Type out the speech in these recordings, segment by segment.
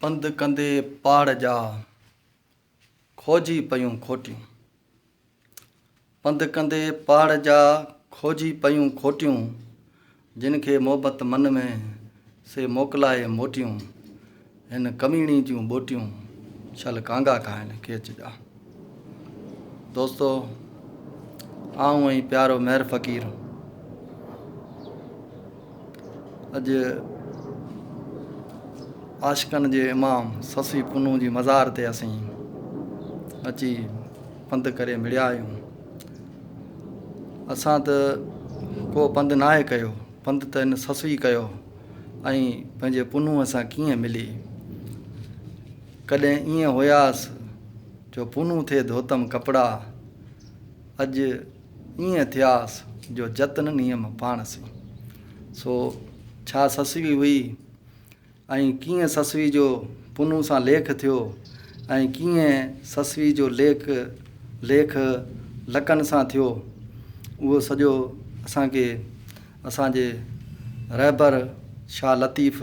پنڌ ڪندي پاڙ جا کوجي پيون کوٽيون. پنڌ ڪندي پاڙ جا کوجي پيون کوٽيون، جن کي محبت من ۾، سي موڪلائي موٽيون، هن ڪميڻي جون ٻوٽيون، ڇل ڪانگا کائن کيچ جا. دوستو آئون ۽ پيارو مهر فقير اڄ عاشقن جي امام سسي پنو جي مزار تي اسين اچي پنڌ ڪري مڙيا آهيون اسان ته ڪو پنڌ ناهي آهي ڪيو پنڌ ته هن سسوي ڪيو ۽ پنهنجي پنو سان ڪيئن ملي ڪڏهن ائين هياس جو پونو ٿي ڌوتم ڪپڙا، اڄ ائين ٿياس جو جت نه نيم پاڻ سين. سو ڇا سسوي هئي ۽ ڪيئن سسوي جو پونو سان ليک ٿيو ۽ ڪيئن سسوي جو ليک ليک لڪن سان ٿيو، اهو سڄو اسان کي اسان جي رهبر شاهه لطيف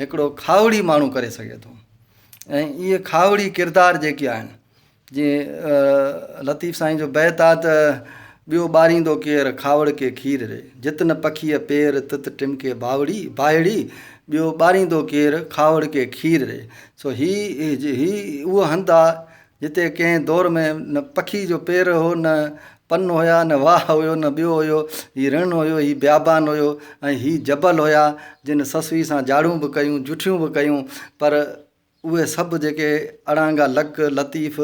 هڪڙو کاهوڙي ماڻهو ڪري سگهي ٿو ۽ اهي کاهوڙي ڪردار جيڪي آهن جي لطيف سائين جو بيت آ ته ٻيو ٻاريندو ڪير کاوڙ کي کير ري جت نه پکيء پير تت ٽمڪي باوڙي باهڙي ٻيو ٻاريندو ڪير کاوڙ کي کير ري سو هي هي اهو هنڌ آ جتي ڪنهن دور ۾ نه پکي جو پير هو نه پن هيا نه واهه هيو نه ٻيو هيو هي رڻ هيو هي بيابان هيو ۽ هي جبل هيا جن سسوي سان جاڙون به ڪيون جٺيون به ڪيون پر اهي سڀ جيڪي اڙانگا لڪ لطيف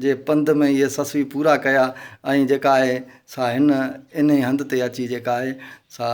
جي پنڌ ۾ اهي سسوي پورا ڪيا ۽ جيڪا آهي سا هن انهي هنڌ تي اچي جيڪا آهي سا